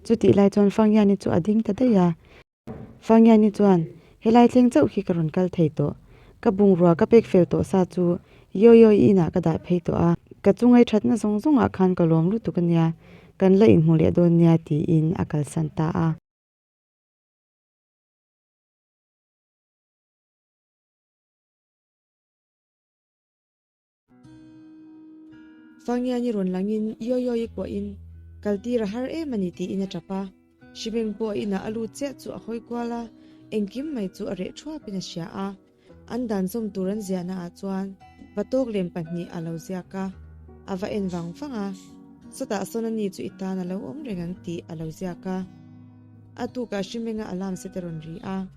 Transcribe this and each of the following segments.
Chutih lai chuan Fangiani chu a ding ta daih a. Fangiani chuan, Helai thleng chauh khi ka rawn kal thei tawh. Ka bungrua ka pek fel tawh sa chu Yoyoy inah ka dah phei tawh a. Ka chu ngaithatna zawng zawngah khan ka lawm lutuk a nia. Kan la inhmu leh dawn nia tiin a kalsan ta a. Sangian i rawn lang in Yo Yo i kuah in, Kal tir a har em a ni tiin a tap a. Shimeng pawh inah a lut chiah chu a hawi kual a, engkim mai chu a reh thuap in a hria a. An dan zawm tur an ziah naah chuan va tawk lem pahnih a lo ziak a, a va en vang vang a. Sawtah sawn ani chu i tan a lo awm reng ang tih a lo ziak a. A tukah Hrimenga alarm set a rawn ri a,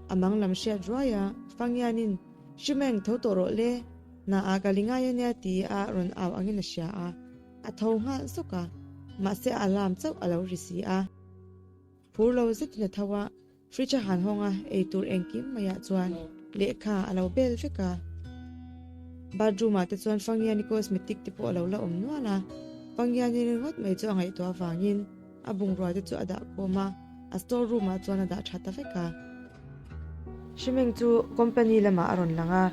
a mang lam hriat ruai a, Fangianin, Hrimeng, tho tawh rawh le, na ah ka li ngai a nia ti a rawn au angin a hria a, a tho nghal zawk a, mahse a alarm chauh a lo ri si a. Phur lo zetin a tho a, fridge a han hawng a, eitur engkim mai ah chuan lehkha a lo bel vek a. Bathroom ah te chuan Fangiani cosmetic te pawh a lo la awm nual a, Fangiani ringawt mai chu a ngaihtuah vangin, A bungrua te chu a dah khawm a, a store room ah chuan a dah tha ta vek a. Hrimeng chu company lamah a rawn lang a,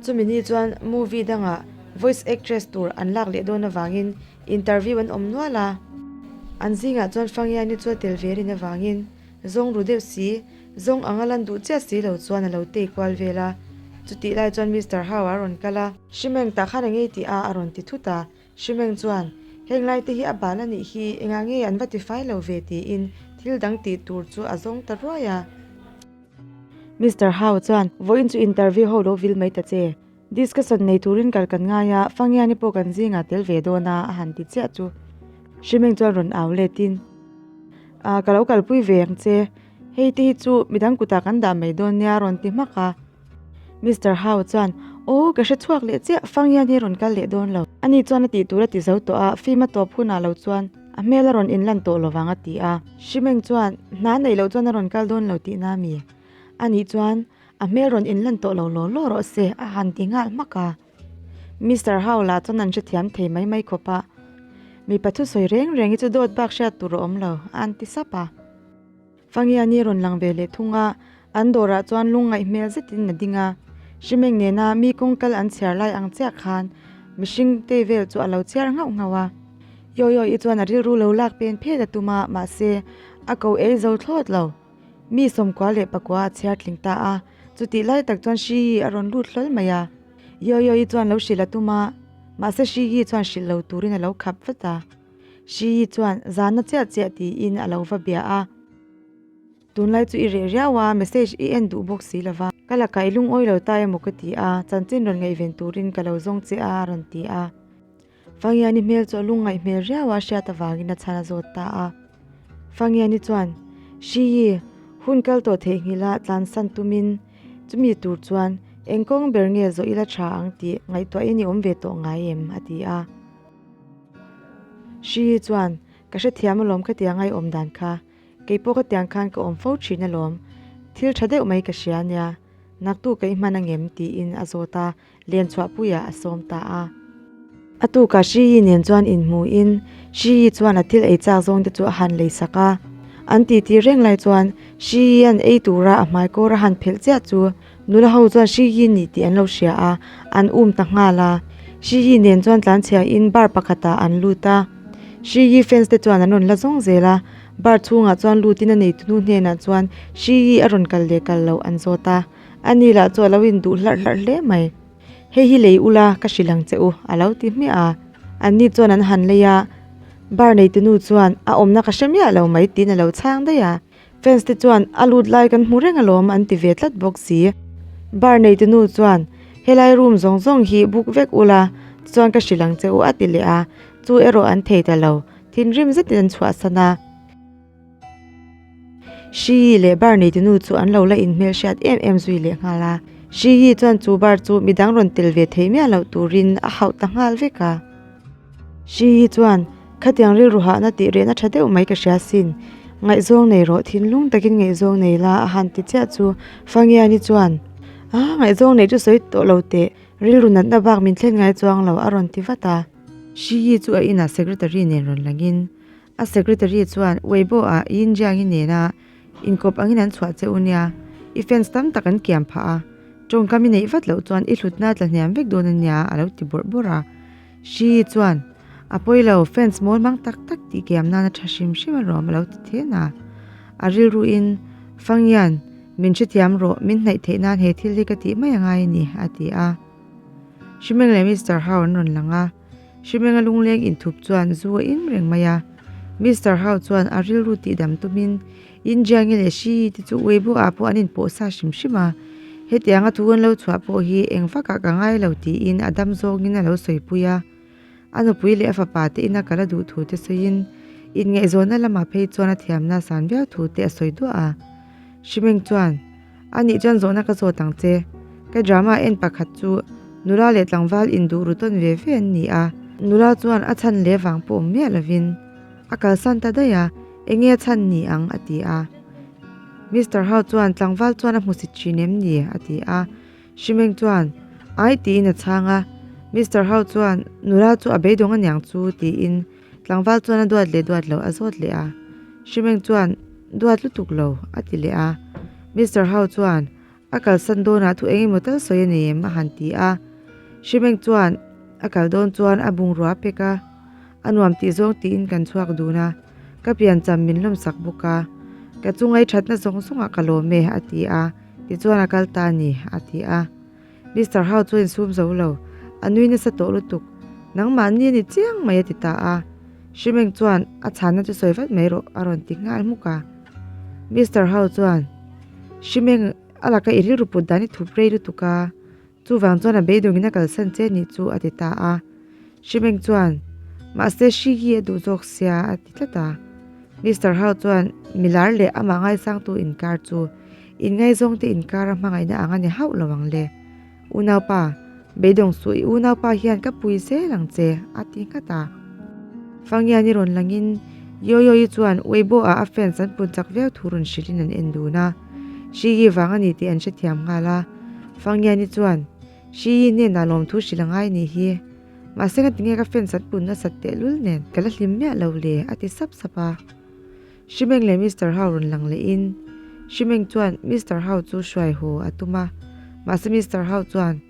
chumi ni chuan movie dangah voice actress tur an lak leh dawn avangin interview an awm nual a. An zingah chuan Fangiani chu a tel ve rin avangin zawng ru deuh si, zawng anga lan duh chiah si lo chuan a lo tei kual vel a. Chutih lai chuan Mister Hau a rawn kal a. Hrimeng tah khan engei tih a a rawn ti thut a. Hrimeng chuan, Heng lai te hi a bal a nih hi, engah nge an va tifai lo ve tiin thil dang tih tur chu a zawng ta ruai a. Mister Hau chuan, Vawiin chu interview ho lo vil mai ta che. Discussion nei turin kal kan ngai a, Fangiani pawh kan zingah tel ve dawn a, a han ti chiah chu. Hrimeng chuan rawn au let in, Aah, ka lo kalpui ve ang che. Hei te hi chu midang kutah kan dah mai dawn nia, a rawn ti hmak a. Mister Hau chuan, Aw, ka hre chhuak leh chiah, Fang hian hi rawn kal leh dawn lo. Ani chuan a tihtur a ti zo tawh a, fim a tawp hunah lo chuan a hmel a rawn inlan tawh lo vang a ti a. Hri Meng chuan, Hna neih loh chuan a rawn kal dawn lo tih na mi? Ani chuan, A hmel rawn inlan tawh lo law law rawh se, a han ti nghal hmak a. Mister Hau lah chuan an hrethiam thei mai mai khawp a, Mipa thusawi reng reng hi chu dawt bak hriat tur a awm lo, a an ti sap a. Fangiani rawn lang ve leh thung a, an dawrah chuan lung ngaih hmel zetin a ding a. Hrimeng nena mi kawng kal an chhiar lai ang chiah khan mihring te vel chu a lo chhiar nghauh nghauh a. Yoyoy-i chuan a rilru lo lak pen phet a tum a, mahse, a ko ei zo thlawt lo. Mi sawmkua leh pakua a chhiar tling ta a, chutih lai tak chuan Hriyi a rawn lut hlawl mai a. Yoyoy-i chuan lo hrilh a tum a, mahse Hriyi chuan hrilh lo turin a lo khap vat a. Hri Yi chuan zana chiah chiah tiin a lo va bia a, tunlai chu i reh riau a, message i en duh bawk si lo va, ka lakah i lungawi lo ta emaw ka ti a, chanchin rawn ngaihven turin ka lo zawng che a a rawn ti a. Fangiani hmel chu a lung ngaih hmel riau a, hriat avangin a chhan a zawt ta a. Fangiani chuan, Hri Yi, hun kal tawh theihnghilh a, tlan san tumin, chumi tur chuan engkawng ber nge zawh i la tha ang tih ngaihtuah in i awm ve tawh ngai em? a ti a. Hrihi chuan, Ka hrethiam alawm khatiang a i awm dan kha. Keipawh khatiang khan ka awm fo thin alawm. Thil tha deuh mai ka hria ania, naktu ka i hman angem? tiin a zawt a, len chhuah puiah a sawm ta a. A tukah Hrihi nen chuan inhmuin, Hrihi chuan a thil ei chak zawng te chu a han lei sak a. An titi reng lai chuan Hrihian ei tura a hmaikawr a han phelh chiah chu. Nula ho chuan Hri Hi ni tih an lo hria a, an um ta nghal a. Hri Hi nen chuan tlan chhia in bar pakhatah an lut a. Hri Hi fans te chuan an rawn la zawng zel a, bar chhungah chuan lut in a nei tunu hnenah chuan Hri Hi a rawn kal leh kal loh an zawt a. A ni lah chu a lo in duh hlarh hlarh hle mai. Hei hi lei ula ka hrilh ang che u, a lo ti hmiah a. An ni chuan an han lei a, bar nei tunu chuan a awmna ka hre miah lo mai tiin a lo chhang daih a. Fans te chuan a lut lai kan hmu reng alawm an ti ve tlat bawk si. Bar neite nu chuan, Helai room zawng zawng hi book vek ula chuan ka hrilh ang che u a ti leh a, chu erawh an thei ta lo, thinrim zet in an chhuahsan a. Hri Yi leh bar neite nu chu an lo la in hmelhriat em em zui leh nghal a. Hri Yi chuan chu bar chu midang rawn tel ve thei miah loh turin a hauh ta nghal vek a. Hrihi chuan, Khatiang rilru hahna tih rehna tha deuh mai ka hria sin. Ngaihzawng nei rawh, thinlung takin ngaihzawng nei la, a han ti chiah chu. Fangiani chuan, A, ngaihzawng nei chu sawi tawh lo teh, rilru natna bak min thlen ngai chuang lo, a rawn ti vat a. Hrihi chu a inah secretary nen rawn langin, a secretary chuan, Weibo a, Yin Jiangi nena inkawp angin an chhuah che u nia, i fans tam tak an kiam phah a, tawngkam i neih vat loh chuan i hlutna tla hniam vek dawn a nia, a lo ti bawrh bawrh a. Hri chuan, A pawi lo, fans mawi hmang tak tak tih kiam nan a tha hrim hrim a rawh alo ti thian a. A rilru in, Fangian, min hrethiam rawh, min hnaih theih nan he thil hi ka tih mai a ngai a ni, a ti a. Hri Meng leh Mister Hau an rawn lang a, Hri Menga lungleng inthup chuan zu a in reng mai a, Mister Hau chuan a rilru tihdam tumin, India nge leh hri te chu Weibo ah pawh an inpawh sa hrim hrim a, hetianga thu an lo chhuah pawh hi eng vak ah ka ngai lo tiin a dam zawng in a lo sawipui a, a nupui leh a fapa te in a kal a duh thu te sawi in inngaihzawnna lamah phei chuan a thiamna san viau thu te a sawi duah a. Hrimeng chuan. a nih chuan zawhna ka zawt ang che ka drama en pakhat chu nula leh tlangval in duh ru tawn ve ve an ni a nula chuan a chhan leh vang pawh miah lovin a kalsan ta daih a enge a chhan ni ang a ti a Mister ho chuan tlangval chuan a hmu si thin em ni a ti a Hrimeng chuan ai tiin a chhang a Mister ho chuan nula chu a beidawng aniang chu tiin. Tlangval chuan a duat leh duat loh a zawt leh a, Hrimeng chuan duat lutuk lo a ti leh a. Mister Hau chuan a kalsan dawnah thu engemaw tal sawi a ni em a han ti a. Hrimeng chuan a kal dawn chuan a bungrua a pek a, a nuam tih zawng tiin kan chhuak dun a, ka piancham min lawmsak bawk a, ka chungai thatna zawng zawngah ka lawm e a ti a, tichuan a kal ta a ni a ti a. Mister Hau chuan in sum zo lo, a nui nasa tawh lutuk, Nangmah ni a ni chiang mai a ti ta a, Hri Meng chuan a chhanna chu sawi vat mai rawh a rawn ti nghal hmuk a. Mister Hau chuan Hri Meng a laka i rilru put dan i thup rei lutuk a, chuvang chuan a beidung in a kalsan che nih chu a ti ta a. Hri Meng chuan Mahse Hri hi a duh zawk sia a ti tlat a. Mister Hau chuan Milar leh amah ngaisangtu inkar chu. Inngai zawngte inkara hmangaihna ang a ni hauh lo ang le. Unaupa, beidawng suh i unaupa hian ka pui zel ang che, a ti nghat a. Fangian i rawn langin Yoyoyi chuan Weibo ah a fans an pun chak viau thu rawn hrilhin an en dun a. Shiyi vang a ni tih an hrethiam nghal a. Fangiani chuan, Shiyi hnenah lawmthu hrilh a ngai nih hi. Mahse ka ti nge ka fans an pun nasat tehlul nen ka la hlim miah lo le, a ti sap sap a. Hrimeng leh Mister Hau rawn lang leh in Hrimeng chuan Mister Hau chu hruai haw a tum a, mahse Mister Hau chuan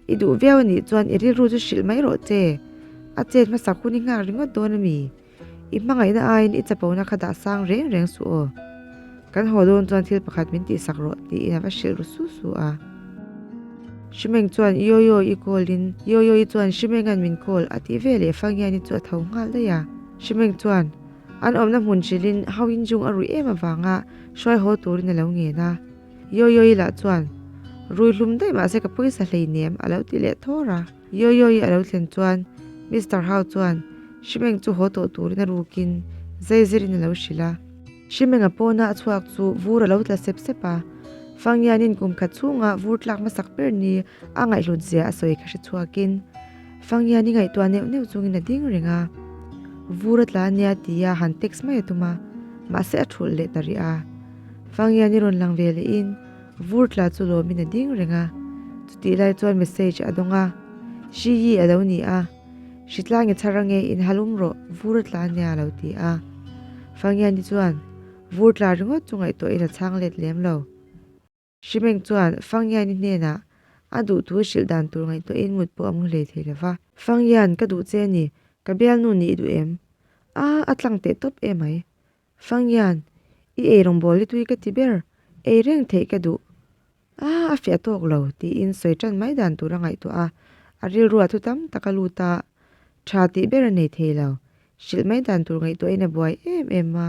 I duh viau a nih chuan I rilru chu hrilh mai rawh che, a chet hmasak hun I nghak ringawt dawn a mi? I hmangaihna aiin I chapo na kha dah sang reng reng suh aw, kan haw dawn chuan thil pakhat min tih sak rawh tiin a va hrilh ru su su a. Hrimeng chuan Yo Yo I call in Yo Yo I chuan Hrimenga min call a tih veleh Fangiani chu a tho nghal daih a, Hrimeng chuan. An awmna hmun hrilhin ho in jung a ruih em avanga hruaihaw turin a lo ngen a. Yoyoy lah chuan, Rui hlum daih mah se ka pawisa hleinem, a lo ti leh thawr a. Yoyoy a lo thlen chuan Mister Hau chuan Hrimeng chu haw tawh turin a rukin zai zirin a lo hrilh a. Hrimenga pawna a chhuak chu vur a lo tla sep sep a. Fangyanin kum khat chhunga vur tlak hmasak ber ni A ngaihhlut zia a sawi ka hre chhuakin Fangiani ngaihtuah neuh neuh chungin a ding reng a. Vura tla ania tia han text mai a tum a, mahse a thulh leh ta rih a. Fangiani rawn lang ve lehin Vur tla chu lawmin a ding reng a. Chutih lai chuan message a dawng a, Hriyi a lo ni a, Hritlang i chhar ange in hal um rawh Vura tla nia a lo ti a. Fangiani chuan Vur tla ringawt chu ngaihtuahin a chhang let lem lo. Hrimeng chuan Fangyiaini hnenah a duh tu hrilh dan tur ngaihtuahin mut pawh a mu hlei thei lova. Fangyian, ka duh che ni, ka bialnu nih i duh em? Aah, a tlang teh tawp e mai. Fangyian, i ei rawngbawl ni tui ka ti ber, ei reng theih ka duh. Aah, a fiah tawk lo, tiin sawi tan mai dan tur a ngaihtuah a, a rilru a thu tam tak a lut a, tha tih ber a nei thei lo, hrilh mai dan tur ngaihtuahin a buai em em a.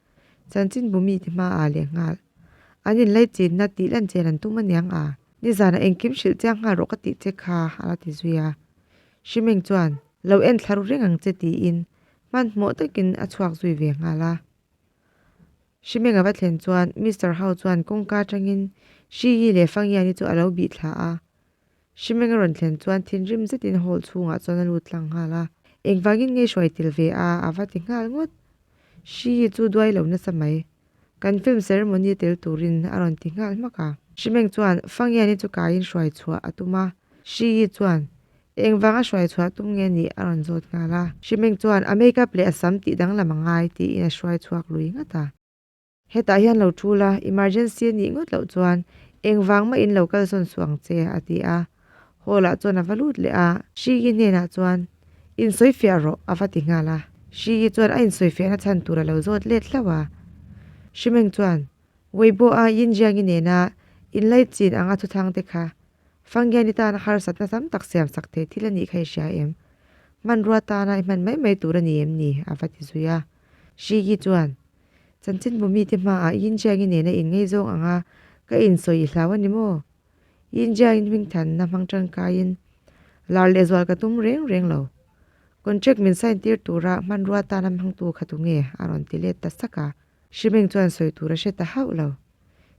Chanchinbu mite hma ah leh nghal an in lei chin na tih lan chen an tum a niang a, nizan a engkim hrilh chiang nghal rawh ka tih che kha a la ti zui a, Hrimeng chuan lo en thla ru reng ang che tiin hmanhmawh tak in a chhuak zui ve nghal a, Hrimeng a va thlen chuan Mister Hau chuan kawngka atang in Hriyi leh Fangyani chu a lo bih thla a. Hrimeng a rawn thlen chuan thinrim zetin hall chhungah chuan a lut tlang nghal a. Engvangin nge hruai tel ve a, a va ti nghal ngawt. Hriyi chu duai lo nasa mai. Kan film ceremony a tel turin a rawn ti nghal hmak a. Hrimeng chuan Fangiani chu kaiin hruai chhuah a tum a. Hriyi chuan, Engvanga hruai chhuah tum nge ni? a rawn zawt nghal a. Hrimeng chuan a makeup leh a sam tih danglam a ngai tiin a hruai chhuak lui ngat a. Hetah hian lo thu la, emergency a nih ngawt loh chuan engvang mah in lo kal sawn suh ang che, a ti a. Hall-ah chuan a va lut leh a. Shigi hnenah chuan, In sawi fiah rawh, a va ti nghal a. Shigi chuan a insawi fiahna chhan tur a lo zawt let hlauh a. Shimeng chuan, Weibo-a Yinjiangi nena inlai chin anga thuthangte kha Fanggiani tana harsatna tam tak siamsak thei thil a nih kha i hria em? Hmanrua tana i hman mai mai tur a ni em ni? a va ti zui a. Shigi chuan, Chanchinbu mite hmaah Yin Jiangi nena inngeizawng anga ka insawi i hlau a ni maw? Yin Jiangin hmingthanna hmang tangkaiin lar leh zual ka tum reng reng lo. Contract min sign tir tura hmanrua tana hmangtu kha tunge a rawn ti let ta sak a? Hrimeng chuan sawi tur a hre ta hauh lo.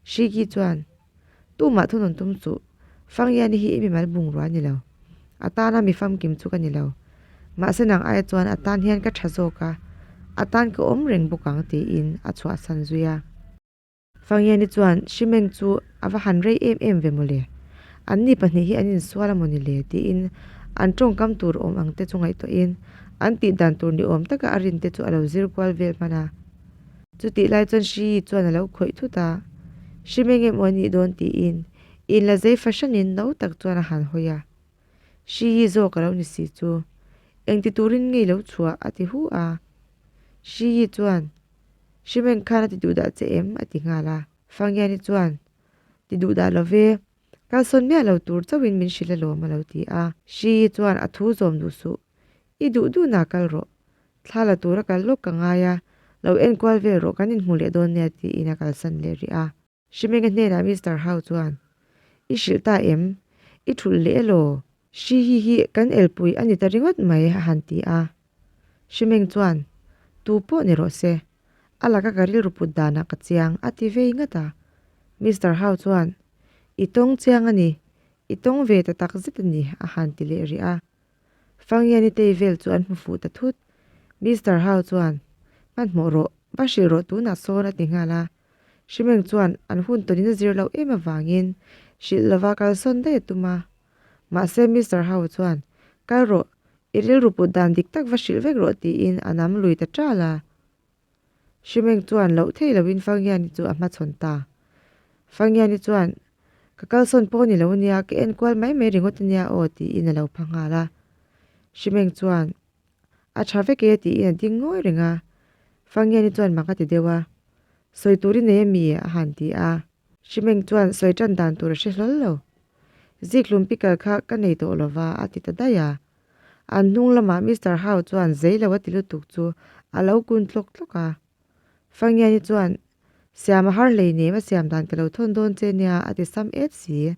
Shigi chuan, Tumah thunawn tum chu Fangyani hi i mimal bungrua ni lo, a tana mi famkim chu ka ni lo. Mahse nang aia chuan a tan hian ka tha zawk a, a tan ka awm reng bawk ang, tiin a chhuahsan zui a. Fangyani chuan, Shimeng chu a va han rei em em ve mawle. Anni pahnih hi an insual a maw ni le? tiin an tawngkam tur awm ang te chu ngaihtuahin an tihdan tur ni awm taka a rin te chu a lo zir kual vel hman a. Chutih lai chuan Hri Yi chuan a lo khawih thut a, Hri Meng em aw i nih dawn tiin in la zei fa hranin no tak chuan a han hawi a. Hri Yi zawk a lo ni si chu, engti turin ngei lo chhuah a ti hu a. Hri Yi chuan, Hri Meng khan a ti duh dah che em? a ti nghal a. Fang Yane chuan, Ti duh dah love, kalsawn miah lo tur chauhin min hrilh alawm a lo ti a. Hri Yi chuan, A thu zawm duh suh, I duh duh na kal rawh. Thla la tura kal lawk ka ngai a, lo enkual vel rawh kan inhmu leh dawn nia tiin a kalsan leh rih a. Hrimenga hnenah Mister Hau chuan, I hrilh ta em? I thulh leh elaw? Hri hi hi kan elpui a ni ta ringawt mai a han ti a. Hrimeng chuan, Tu pawh ni rawh se. A laka ka rilru put danah ka chiang a ti vei ngat a. Mister Hau chuan, I tawng chiang a ni, i tawng ve ta tak zet a ni a han ti leh rih a. Fangia Nitei vel chu an hmu fuh ta thut. Mister Hau chuan, Hmanhmawh rawh, va hrilh rawh tunah sawn a ti nghal a. Hrimeng chuan an hun tawnin a zir loh em avangin hrilh lova kal sawn daih a tum a. Mahse Mister Hau chuan, Kal rawh, i rilru put dan dik tak va hrilh vek rawh tiin a nam lui ta ṭal a. Hrimeng chuan loh thei lo in Fangiani chu a hmachhawn ta. Fangiani chuan, Ka kalsawn pawh ni lo a nia, ka en kual mai mai ringawt a nia aw, tiin a lo pha nghal a. Hrimeng chuan, A tha vek e, tiin a ding ngawi reng a. Fangiani chuan mang a ti deuh a, Sawi tur i nei a mi e, a han ti a. Hrimeng chuan sawi tan dan tur a hre hlawl lo. Zikhlum pickle kha ka nei tawh lo va, a ti ta daih a. An hnung lamah Mister Hau chuan zei lo a ti lutuk chu a lo kun tlawk tlawk a. Fangiani chuan, Siama har hlei nem a siam dan ka lo thawn dawn che nia a ti sam et si.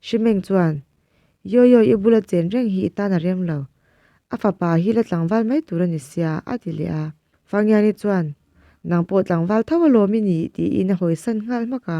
Hri Meng chuan, Yaw yaw i bula chen reng hi i tan a rem lo. A fapa hi la tlangval mai tur a ni sia a ti leh a. Fangiani chuan, Nang pawh tlangval tho alawm i ni tiin a hawisan nghal hmak a.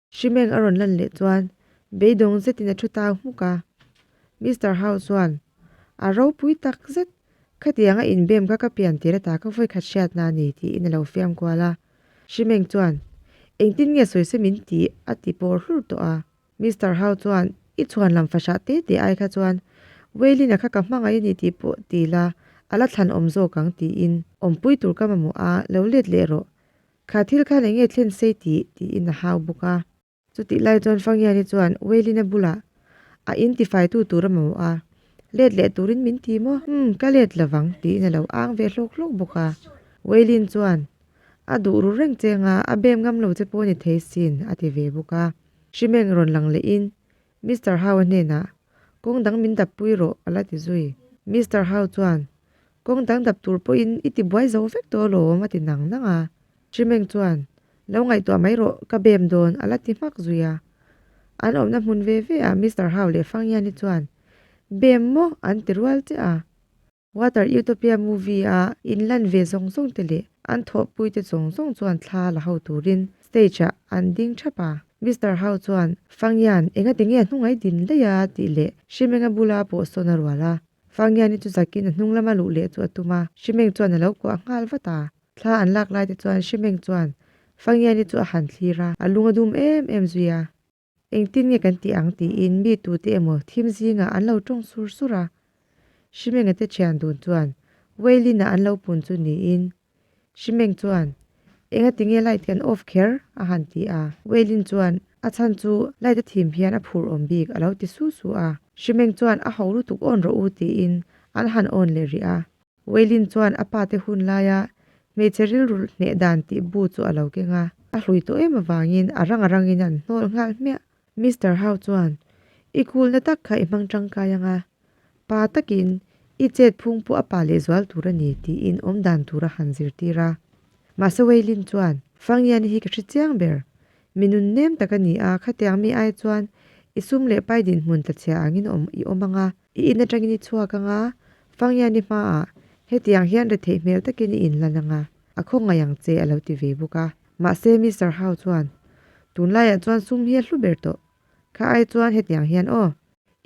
Hrimeng a rawn lan leh chuan beidawng zetin a thu tau hmuk a. Mister Hau chuan, A ropui tak zet, khatiang a inbem kha ka pian tir ata ka vawikhat hriat hna a ni tiin a lo fiam kual a. Hrimeng chuan, Engtin nge sawi se min tih? a ti pawr hlur tawh a. Mister Hau chuan, I chhuan lam fahrah te te ai kha chuan Wei Lin-a kha ka hmangaih a ni tih pawh ti la, a la thlan awm zawk ang tiin awmpui tur ka mamawh a, lo let leh rawh. Kha thil khan eng nge thlen sei ti? tiin a hau bawk a. Chutih lai chuan Fangiani chuan Wei Lin a bulah a in tifaitu tur a mawh a, let leh turin min ti maw? Hum, ka let lovang, tiin a lo ang ve hlawk hlawk bawk a. Wei Lin chuan a duh rul reng chenga, a bem ngam lo che pawh a ni thei sin, a ti ve bawk a. Hrimeng rawn lang lehin Mister Hau-a hnenah, Kawng dang min dap pui rawh, a la ti zui. Mister Hau chuan, Kawng dang dap tur pawhin i ti buai zo vek tawh alawm, a ti nang nang a. Hri Meng chuan, Lo ngaihtuah mai rawh, ka bem dawn, a la ti hmak zui a. An awmna hmun ve veah Mister Hau leh Fang Yan-i chuan, Bem maw? an ti rual che a. Water Utopia movie a in lan ve zawng zawng te leh an thawh pui te zawng zawng chuan thla la ho turin stage ah an ding thap a. Mister Hau chuan Fangyan enga tinge a hnungai din daih a tih leh Hrimenga bula pawh sawn a rual a. Fangyan-i chu zakin a hnung lama luh leh chu a tum a, Hrimeng chuan a lo kuah nghal vat a. Thla an lak lai te chuan Hrimeng chuan Fangyan-i chu a han thlir a, a lung a dum em em zui a. Engtin nge kan tih ang tiin mi tute emaw thim zingah an lo tawng sur sur a. Hrimenge te thian dun chuan Wei Lina an lo pun chu niin, Hrimeng chuan, Enga tinge light kan off kher? a han ti a. Wei Lin chuan, A chhan chu light a thim hian a phur awm bik, a lo ti su su a. Hrimeng chuan, A ho lutuk on rawh u tiin an han on leh rih a. Wei Lin chuan a pa te hun laia hmeichhe rilru hneh dan tih bu chu a lo keng a, a hlui tawh em avangin a ranga rangin an hnawl nghal hmiah. Mister Hau chuan, I kulna tak kha i hmang tangkai anga, pa takin i chetphung pawh a pa lehzual tur a ni tiin awm dan tur a han zirtir a. Mahse Wei Lin chuan, Fangiani hi ka hre chiang ber, mi nun nem tak a ni a, khatiang mi ai chuan i sum leh pai dinhmun tla chhia angin awm i awm anga, I in atangin i chhuak ang a, Fangngiani hmaah hetiang hian re theih hmel takin i inlan ang a, a khawngaih ang che, a lo ti ve bawk a. Mahse, Mister Hau chuan, Tunlaiah chuan sum hi a hlu ber tawh. Kha ai chuan hetiang hian aw,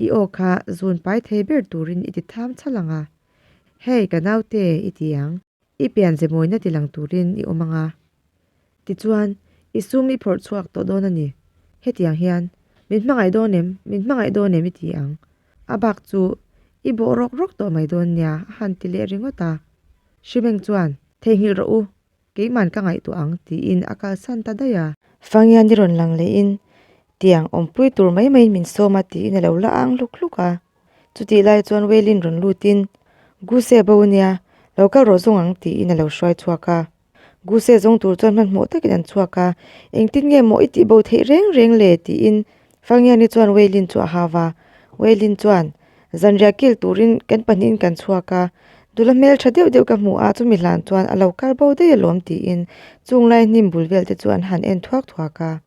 i aw kha zun pai thei ber turin i ti tham chal ang a. Hei, ka naute, i ti ang. I pian ze mawina ti lang turin i awm ang a. Tichuan, i sum i phawrh chhuak tawh dawn a ni. Hetiang hian, Min hmangaih dawn em? Min hmangaih dawn em? i ti ang. A bak chu, I bawh rawk rawk tawh mai dawn nia, a han ti leh ringawt a. Hrimeng chuan, Theihnghilh rawh u, keiman ka ngaihtuah ang, tiin a kalsan ta daih a. Fangia ni rawn lang leh in, Tiang awmpui tur mai maiin min sawm a, tiin a lo la ang hluk hluk a. Chutih lai chuan Wei Lin rawn lut in, Gu se bo nia, lo kal rawh zawng ang tiin a lo hruai chhuak a. Gu se zawng tur chuan hmanhmawh takin an chhuak a, engtin nge maw i tih bo theih reng reng le tiin Fangiani chuan Wei Lin chu a hau a. Wei Lin chuan, Zanriah kil turin kan pahnihin kan chhuak a, dul a hmel tha deuh deuh ka hmu a, chumi hlan chuan a lo kal bo daih alawm tiin chung lai hnim bul vel te chu an han en thuak thuak a.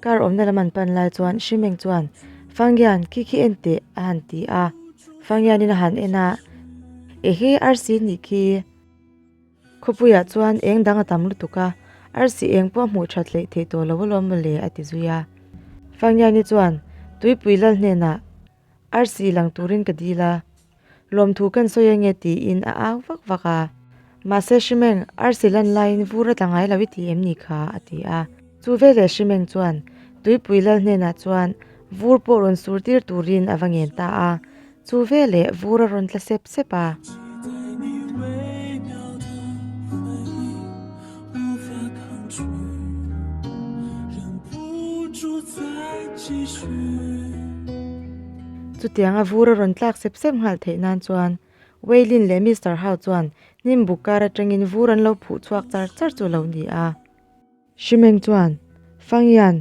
Car awmna lam an pan lai chuan Hrimeng chuan, Fangyan, khi khi en teh? a han ti a. Fangyanin a han en a, E hi arsi nih khi. Khawpuiah chuan eng dang a tam lutuk a, arsi eng pawh a hmuh that leh theih tawh lo alawm maw le? a ti zui a. Fangyani chuan, Tuipui lal hnenah arsi lang turin ka deal a, Lawmthu kan sawi enge tiin a au vak vak a. Mahse Hrimeng, arsi lan laiin vur a tla ngai lo i ti em ni kha? a ti a. Chu veleh Hrimeng chuan Tuipui lal hnenah chuan vur pawh rawn sur tir turin a va ngen ta a. Chu veleh vur a rawn tla sep sep a. Chutiang a vur a rawn tlak sep sep nghal theih nan chuan Wei Lin leh Mister Hau chuan hnimbuk kar atangin vur an lo phuh chhuak char char chu a lo ni a. Hri Meng chuan, Fangyan,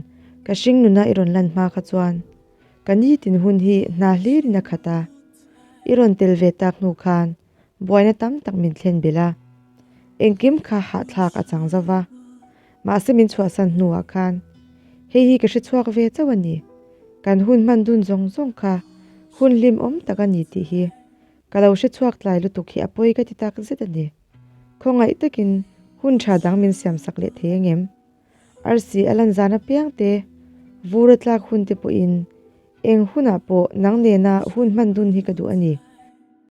ka hring nuna i rawn lan hma kha chuan ka nitin hun hi hna hlir in a khat a, i rawn tel ve tak hnu khan buaina tam tak min thlen belh a, engkim kha hahthlak a chang zo va, mahse min chhuahsan hnuah khan hei hi ka hre chhuak ve chauh a ni, kan hun hman dun zawng zawng kha hun hlimawm tak a ni tih hi ka lo hre chhuak tlai lutuk hi a pawi ka ti tak zet a ni. Khawngaih takin hun tha dang min siamsak leh thei ang em? Arsi a lan zan apiang te, vura tlak hun te pawhin, eng hunah pawh nang nena hun hman dun hi ka duh a ni.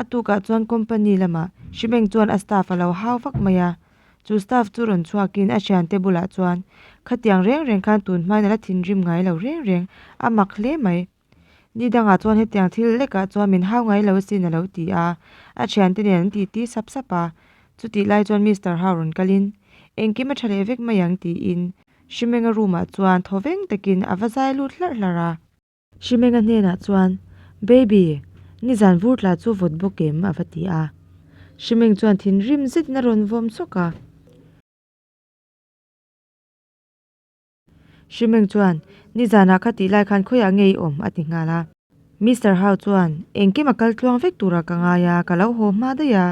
A tukah chuan company lamah Shibeng chuan a staff a lo hau vak mai a. Chu staff chu rawn chhuakin a thiante bulah chuan khatiang reng reng khan tun hmain a la thinrim ngai lo reng reng, a mak hle mai. Ni dangah chuan hetiang thil lekah chuan min hau ngai lo asin a lo ti a, a thiante nen an titi sap sap a. Chutih lai chuan Mister Hau rawn kalin, Engkim a tha leh vek mai ang tiin Shimenga room ah chuan thaw veng takin a va zai lut hlarh hlarh a. Hrimenga hnenah chuan, Baby, nizan vur tla chu vawt bawk em? a va ti a. Hrimeng chuan thinrim zetin a rawn vawm chawk a. Hrimeng chuan, Nizanah kha tih lai khan khawiah nge i awm? a ti nghal a. Mister Hau chuan, Engkima kal tluang vek tura ka ngai a, ka lo haw hma daih a,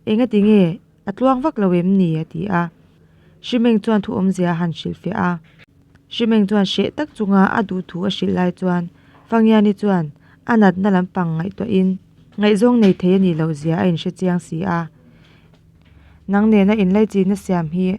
engatinge A tluang vak lo em ni? a ti a. Hrimeng chuan thuawmzia a han hrilh fiah a. Hrimeng chuan hreh tak chunga a duh thu a hrilh lai chuan Fangiani chuan a natna lampang ngaihtuahin, Ngaihzawng nei thei a nih loh zia a inhre chiang si a, nang nena inlaichinna siam hi